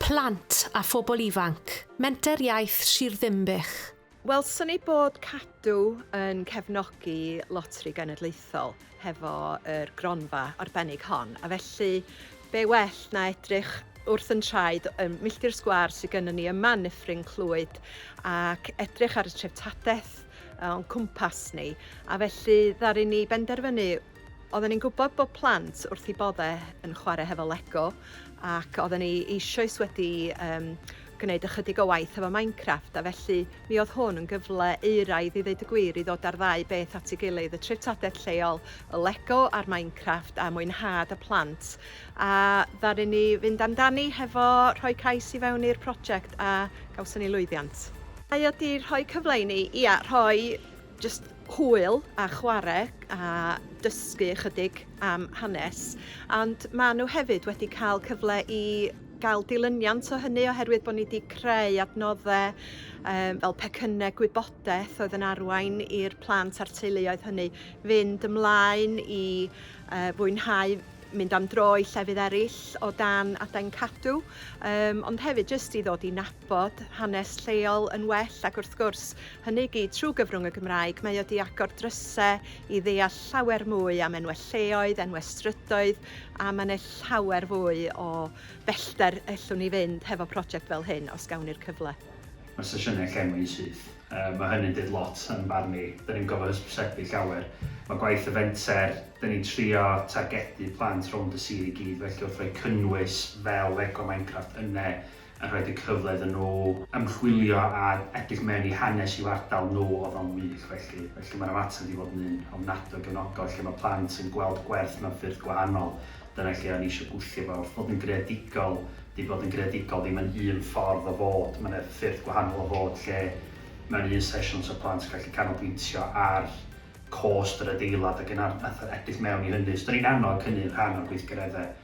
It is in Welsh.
Plant a phobl ifanc, Menter Iaith Sir Ddinbych. Welson ni bod Cadw yn cefnogi Loteri Genedlaethol hefo yr gronfa arbennig hon, a felly be well na edrych wrth yn traed y milltir sgwâr sydd gennym ni yma yn Nyffryn Clwyd ac edrych ar y treftadaeth o'n cwmpas ni, a felly ddaru ni benderfynu Oedden ni'n gwybod bod plant wrth eu boddau yn chwarae hefo Lego ac oedden ni eisoes wedi um, gwneud ychydig o waith hefo Minecraft a felly mi oedd hwn yn gyfle euraidd i ddeud y gwir i ddod ar ddau beth at ei gilydd, y treftadaeth lleol, y Lego a'r Minecraft a mwynhad y plant. A ddaru ni fynd amdani hefo rhoi cais i fewn i'r prosiect a gawson ni lwyddiant. Mae o wedi rhoi cyfle i ni, ia, rhoi Jyst hwyl a chwarae a dysgu ychydig am hanes, ond maen nhw hefyd wedi cael cyfle i gael dilyniant o hynny oherwydd bod ni wedi creu adnoddau um, fel pecynnau gwybodaeth oedd yn arwain i'r plant a'r teuluoedd hynny fynd ymlaen i uh, fwynhau mynd am dro i llefydd eraill o dan adain cadw, um, ond hefyd jyst i ddod i nabod bod hanes lleol yn well ac wrth gwrs, hynny i gyd trwy gyfrwng y Gymraeg, mae o 'di agor drysau i ddeall llawer mwy am enwau lleoedd, enwau strydoedd a mae 'na llawer fwy o bellter ellwn ni fynd hefo project fel hyn os gawn ni'r cyfle. Mae sesiynau llenwi syth. Mae hynny'n deud lot yn barn i. Dan ni'n gorfod hysbysebu llawer. Mae gwaith y fenter, dan ni'n trio targedu plant rownd y sir i gyd felly wrth roi cynnwys fel Lego Minecraft yna, a rhoid y cyfle iddyn nhw ymchwilio a edrych mewn i hanes i'w ardal nhw oedd o'n wych felly. Felly mae'r ymateb wedi bod yn un ofnadwy o gefnogol lle mae plant yn gweld gwerth mewn ffyrdd gwahanol, dyna lle o'n i eisiau gwthio fo wrth fod yn greadigol, dydy bod yn greadigol ddim yn un ffordd o fod, mae 'na ffyrdd gwahanol o fod lle mewn un sesiwn 'sa plant yn gallu canolbwyntio ar cost yr adeilad ac yn edrych mewn i hynny, so 'da ni'n annog hynny yn rhan o'r gweithgareddau